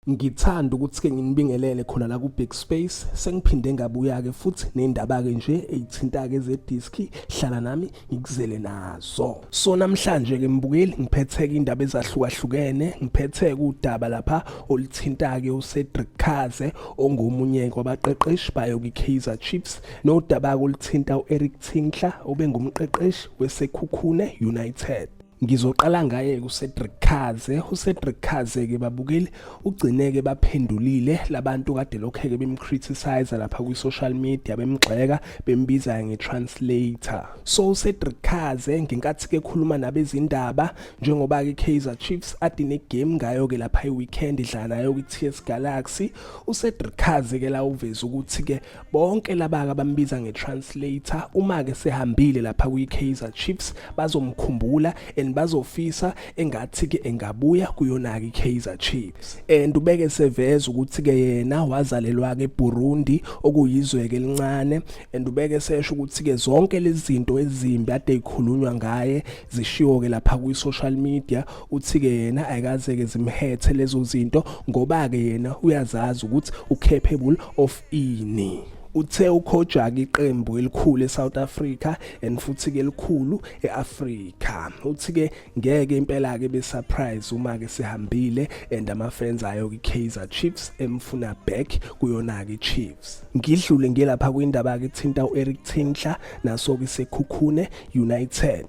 Ngithanda ukuthi-ke nginibingelele khona la ku-Big Space sengiphinde ngabuya-ke futhi ney'ndaba-ke nje ey'thinta-ke zediski hlala nami ngikuzele nazo so namhlanje-ke mbukeli ngiphethe-ke iy'ndaba ezahlukahlukene ngiphethe-ke udaba lapha oluthinta-ke ucedric khaze ongomunye kwabaqeqeshi bayo kwi-kaizer chiefs nodaba-ke oluthinta u-eric tinkler obengumqeqeshi wesekhukhune united Ngizoqala ngaye kuCedric Kaze. UCedric Kaze ke babukeli ugcineke baphendulile labantu kade lokheke bemcriticize lapha kwi social media bemgxeka bembiza nge translator. So uCedric Kaze ngenkathi ke khuluma nabezindaba njengoba ke Kaizer Chiefs adine game ngayo ke lapha iweekend idlala nayo kwi TS Galaxy. UCedric Kaze ke la uveza ukuthi ke bonke laba-ke abambiza nge-translator uma-ke sehambile lapha kwi-kaizer chiefs bazomkhumbula and bazofisa engathi-ke engabuya kuyona-ke i-kaizer chiefs and ubeke seveza ukuthi-ke yena wazalelwa-ke eburundi okuyizwe-ke elincane and ubeke sesho ukuthi-ke zonke lezi zinto ezimbi ade yikhulunywa ngaye zishiwo-ke lapha kwi-social media uthi-ke yena ayikaze-ke zimhethe lezo zinto ngoba-ke yena uyazazi ukuthi u-capable of ini uthe ukhojaka iqembu elikhulu eSouth Africa and futhi ke elikhulu eAfrica uthi ke ngeke impela ke be surprise uma ke sihambile and ama fans ayo ke Kaizer Chiefs emfuna back kuyona ke Chiefs ngidlule ngelapha kwindaba ke thinta uEric Tinkler naso ke sekhukhune United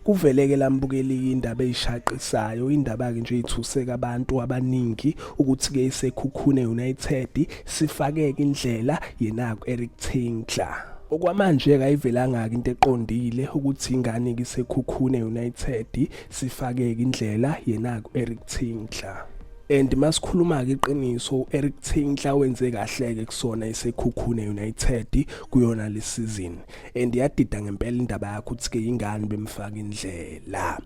Kuveleke lambukeliki indaba eyishaqisayo indaba-ke nje ithuseka abantu abaningi ukuthi-ke isekhukhune United sifakeke indlela yenaku Eric Tinkler. Okwamanje-ke ayivelangaki into eqondile ukuthi ingane kisekhukhune United sifakeke indlela yenaku Eric Tinkler. and masikhuluma ke iqiniso uEric Tinkler wenze kahle ke kusona isekhukhune United kuyona le season and yadida ngempela indaba yakho ukuthi ke ingane bemfaka indlela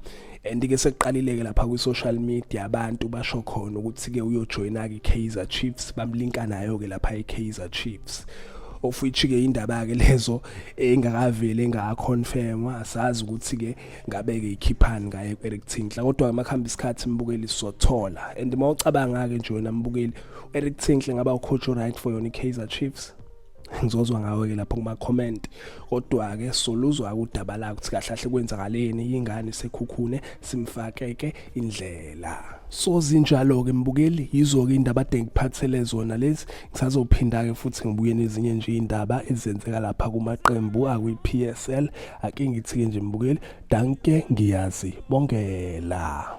and ke sekuqalileke lapha kwi social media abantu basho khona ukuthi ke uyojoyina ke Kaizer Chiefs bamlinka nayo ke lapha e Kaizer Chiefs of which ke indaba ke lezo engakaveli engaconfirmwa asazi ukuthi ke ngabe ke ikhiphani ngaye Eric Tinkler kodwa makhamba isikhathi imbukeli sothola and mawucabanga ke nje wena mbukeli Eric Tinkler ngaba ucoach right for yona iKaizer Chiefs ngizozwa ngawe ke lapho kuma comment kodwa ke soluzwa udaba la ukuthi kahle kahle kwenzakaleni ingane sekhukhune simfakeke indlela so zinjalo ke mbukeli yizo ke indaba ade ngiphathele zona lezi ngisazophinda ke futhi ngibuye nezinye nje indaba ezenzeka lapha kumaqembu akwi PSL ake ngithi ke nje mbukeli danke ngiyazi bongela